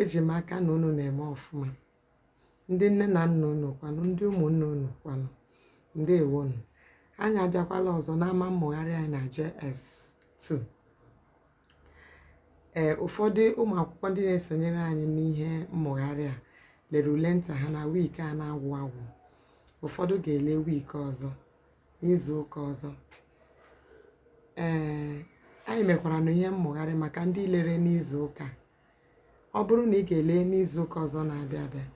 eji m aka na unu na-eme ọfụma ndị nne na nna unu kwanụ ndị ụmụnne unu kwanụ ndewonụ anyị abịakwala ọzọ n'ama mmụgharị anyị na JS2 ee ụfọdụ ụmụ akwụkwọ ndị na-esonyere anyị n'ihe mmụgharị a lere ule nta ha na wiiki a na-agwụ agwụ ụfọdụ ga-ele wiiki ọzọ n'izu ụka ọzọ ee anyị mekwaranụ ihe mmụgharị maka ndị lere n'izu ụka ọ bụrụ na ị ga-ele n'izu ụka ọzọ na-abịa abịa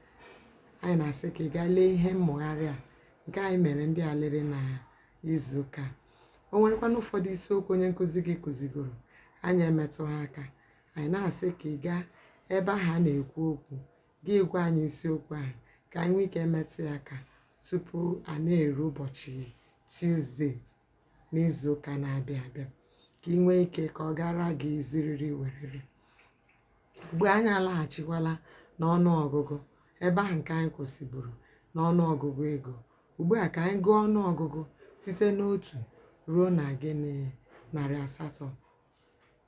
anyị na-asị ka ị gaa lee ihe mmụgharị a nke anyị mere ndị a lere na izu ụka o nwerekwanụ ụfọdụ isiokwu onye nkụzi gị kụzigoro anyị emetụghị aka anyị na-asị ka ị gaa ebe ahụ a na-ekwu okwu gị gwa anyị isiokwu ahụ ka anyị nwee ike metụ ya aka tupu a na-eru ụbọchị Tuzdee n'izu ụka na-abịa abịa ka ị nwee ike ka ọ gaara gị ziriri werere ugbu a anyị alaghachikwala n'ọnụ ọgụgụ ebe ahụ nke anyị kwụsịburu n'ọnụ ọgụgụ ego ugbu a ka anyị gụọ ọnụ ọgụgụ site n'otu ruo na gịnị narị asatọ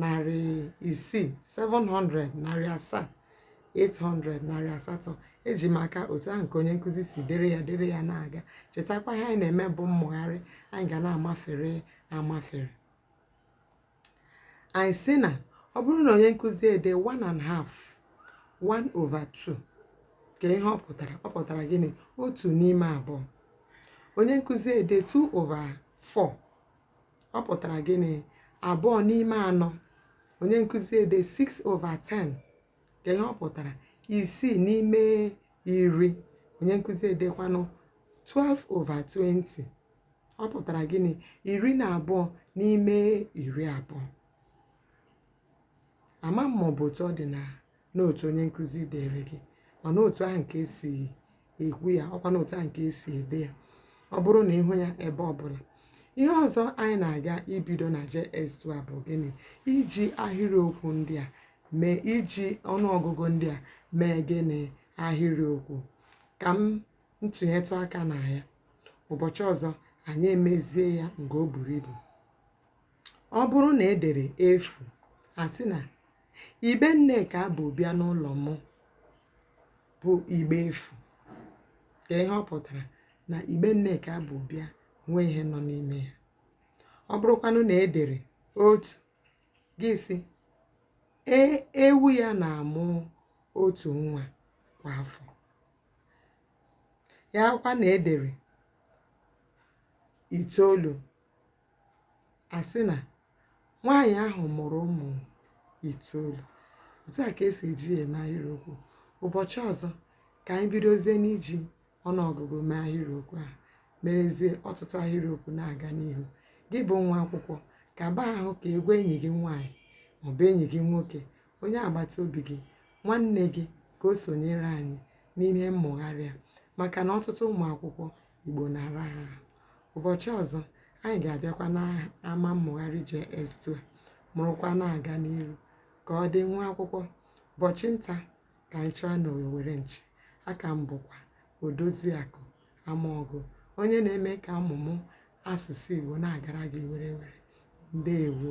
narị isii 700 narị asaa 800 narị asatọ eji m aka otu ahụ nke onye nkụzi si dere ya dere ya na-aga chetakwa ihe anyị na-eme bụ mmụgharị anyị ga na-amafere amafere anyị sị na ọ bụrụ na onye nkụzi ede 1 half 1 over 2 kee ihe ọ pụtara ọ pụtara gịnị otu n'ime abụọ onye nkụzi ede 2 over 4 ọ pụtara gịnị abụọ n'ime anọ onye nkụzi ede 6 over 10 kee ihe ọ pụtara isii n'ime iri onye nkụzi edekwanụ 12 over 20 ọ pụtara gịnị iri na abụọ n'ime iri abụọ ama m ma ọ bụ otu ọ dị na na otu onye nkụzi deere gị ma na otu ahụ nke e si ekwu ya ọkwa na otu ahụ nke e si ede ya ọ bụrụ na ị hụ ya ebe ọbụla ihe ọzọ anyị na-aga ibido na JS2 a bụ gịnị iji ahịrịokwu ndị a mee iji ọnụọgụgụ ndị a mee gịnị ahịrịokwu ka m ntụnyetụ aka na ya ụbọchị ọzọ anyị emezie ya nke o buru ibu ọ bụrụ na e dere efu a sị na igbe nneka bu bịa n'ụlọ m bụ igbe efu kee ihe ọ pụtara na igbe nneka bu bịa enweghị ihe nọ n'ime ya ọ bụrụkwanụ na e dere otu gị sị ee ewu ya na-amụ otu nwa kwa afọ ya kwa na e dere itoolu a sị na nwaanyị ahụ mụrụ ụmụ itoolu otu a ka e si eji ya eme ahịrịokwu ụbọchị ọzọ ka anyị bidozie n'iji ọnụọgụgụ mee ahịrịokwu ahụ merezie ọtụtụ ahịrịokwu na-aga n'ihu gị bụ nwa akwụkwọ ka baa ahụ ka ị gwa enyi gị nwaanyị maọbụ enyi gị nwoke onye agbata obi gị nwanne gị ka o sonyere anyị n'ihe mmụgharị a maka na ọtụtụ ụmụ akwụkwọ Igbo na-ara ha ahụ. Ụbọchị ọzọ, anyị ga-abịakwa n'ama mmụgharị JS2 a mụrụkwa na-aga n'iru ka ọ dị nwa akwụkwọ ụbọchị nta ka anyị chụọ n'owere nchi a ka m bụkwa odoziakụ amaọgụ onye na-eme ka ọmụmụ asụsụ Igbo na-agara gị werewere ndewo